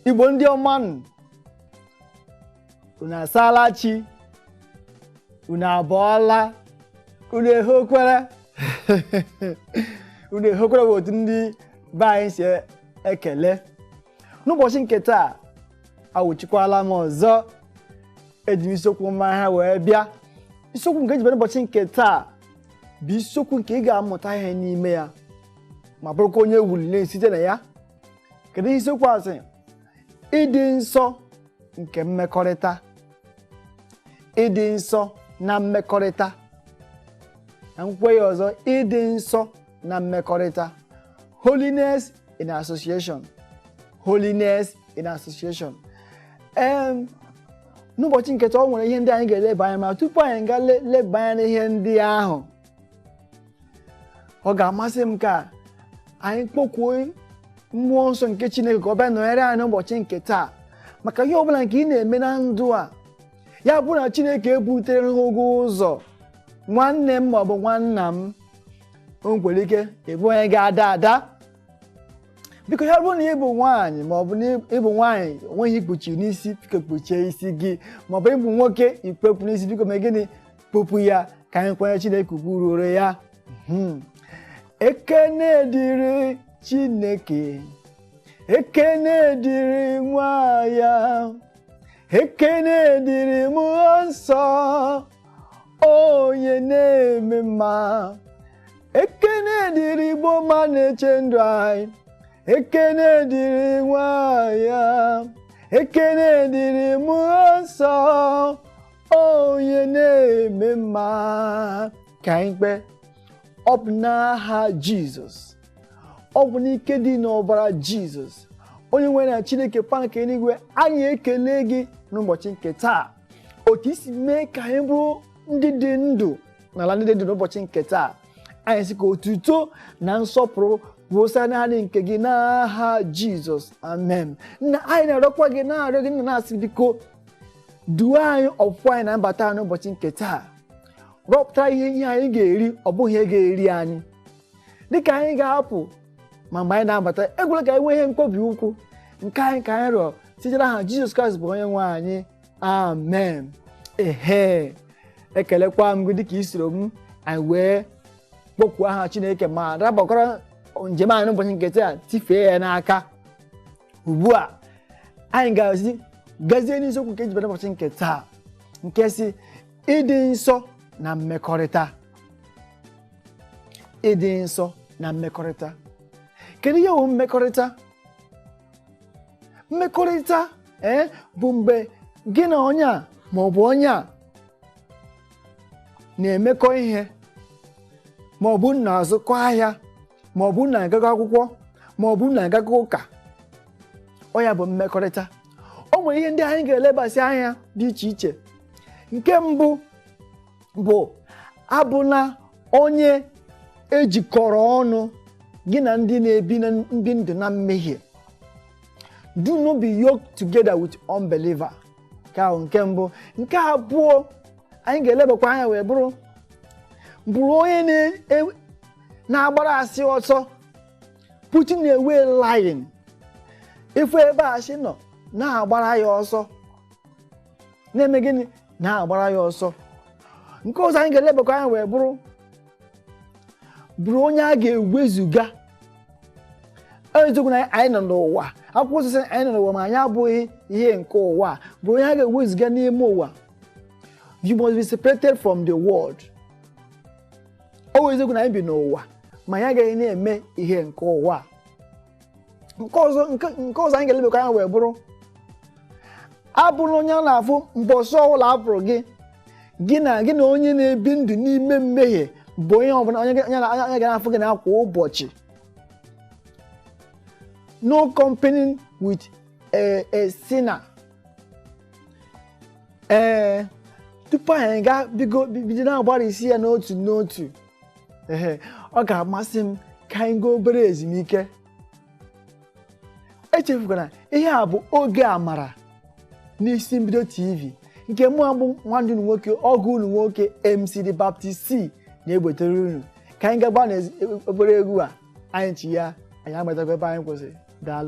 igbo ndị ọma nụ unu asaala chi unu abọọla unu ehokwere unu ehokwere bụ otu ndị be anyị si ekele n'ụbọchị nke taa awụchikwala m ọzọ eji m isiokwu mma ha wee bịa isiokwu nke m ji bịa n'ụbọchị nke taa bụ isiokwu nke ị ga-amụta ihe n'ime ya ma bụrụkwa onye wulile site na ya kedu ihe isiokwu a sị ịdị nsọ nke mmekọrịta ịdị nsọ na mmekọrịta ka m kwukwa ya ọzọ ịdị nsọ na mmekọrịta holiness in association holiness in association um, n'ụbọchị nke taa o nwere ihe ndị anyị ga-eleba anya ma tupu anyị ga-eleba anya n'ihe ndị ahụ ọ ga-amasị m ka anyị kpọkuo mmụọ nsọ nke Chineke ka ọ bịa nọnyere anyị n'ụbọchị nke taa maka ihe ọbụla nke ị na-eme na ndụ a ya bụrụ na Chineke ebutereghị gị ụzọ nwanne m maọbụ nwanna m o nwere ike ịbụ onye ga-ada ada biko ya bụrụ na ị bụ nwaanyị ma ọ bụ na ị bụ nwaanyị o nweghị ihe i kpuchi n'isi biko kpuchie isi gị ma ọ bụ ị bụ nwoke i kpu okpu n'isi biko mee gịnị kpupụ ya ka anyị kwanye Chineke ugwu ruoro ya hmm. ekene dịrị Chineke ekene dịrị nwa ya ekene dịrị mmụọ nsọ onye na-eme mma ekene dịrị igbo ma na-eche ndụ anyị ekene dịrị nwa ya ekene dịrị mmụọ nsọ onye na-eme mma ka anyị kpee ọ bụ n'aha jizọs ọ bụ n'ike dị n'ọbara jizọs onye nwere anyị chineke pa nke eluigwe anyị ekele gị n'ụbọchị nke taa otu i si mee ka anyị bụrụ ndị dị ndụ n'ala ndị dị ndụ n'ụbọchị nke taa anyị sị ka otuto na nsọpụrụ bụrụ sọ naanị nke gị n'aha jizọs amen nna anyị na-arịọkwa gị na-arịọ gị nna na-asị biko duo anyị ọpụpụ anyị na mbata anyị n'ụbọchị nke taa rọpụta ihe ihe anyị ga-eri ọ bụghị ihe ga-eri anyị dịka anyị ga-apụ ma mgbe anyị na-abata ekwela ka anyị nwee ihe mkpobi ụkwụ nke a ka anyị rịọ site n'aha jizọs kraịst bụ onye nwe anyị amen ehe ekelekwa m gị dịka i soro m anyị wee kpọkuo aha chineke ma rabakwara njem anyị n'ụbọchị nke taa tifee ya n'aka ugbu a anyị ga-esi gazie n'isiokwu nke e jibere ụbọchị nke taa nke sị ịdị nsọ na mmekọrịta ịdị nsọ na mmekọrịta kedu ihe wụ mmekọrịta mmekọrịta ee eh, bụ mgbe gị na onye a ma ọ bụ onye a na-emekọ ihe ma ọ bụ na-azụkọ ahịa ma ọ bụ na-agakọ akwụkwọ ma ọ bụ na-agakọ ụka ọ ya bụ mmekọrịta o nwere ihe ndị anyị ga-elebasị anya dị iche iche nke mbụ bụ abụna onye e jikọrọ ọnụ gị na ndị na-ebi ndụ na mmehie do not be yoked together with unbeliever nke ahụ nke mbụ nke abụọ anyị ga-elebakwa anya wee bụrụ bụrụ onye na- na-agbara asị ọsọ putting away lying ị fụ ebe asị nọ na-agbara ya ọsọ na-eme gịnị na-agbara ya ọsọ nke ọzọ anyị ga-elebakwa anya wee bụrụ bụrụ onye a ga-ewezuga ọ eziokwu na anyị nọ n'ụwa akwụkwọ nsọ sị anyị nọ n'ụwa ma anyị abụghị ihe nke ụwa bụrụ onye a ga-ewezuga n'ime ụwa you must be separated from the world ọ bụ eziokwu na anyị bi n'ụwa ma anyị agaghị na-eme ihe nke ụwa nke ọzọ nke nke ọzọ anyị ga-elebekwa anya wee bụrụ abụna onye a na-afụ mbọsị ọbụla a fụrụ gị gị na gị na onye na-ebi ndụ n'ime mmehie bụ onye ọbụla onye ga- onye na- onye ga na-afụ gị na kwa ụbọchị no company with a, a sinner ee tupu anyị gaa bido na-agbarisi ya n'otu n'otu ehe ọ ga-amasị m ka anyị gaa obere ezumike echefukwana ihe a bụ oge amara n'isi mbido tv nke mụ abụ nwanne unu nwoke ọgọ unu nwoke mc the baptist c na-ebutere unu ka anyị gaba na obere egwu a anyị chigha anyị agbatakwa ebe anyị kwụsịrị daalụ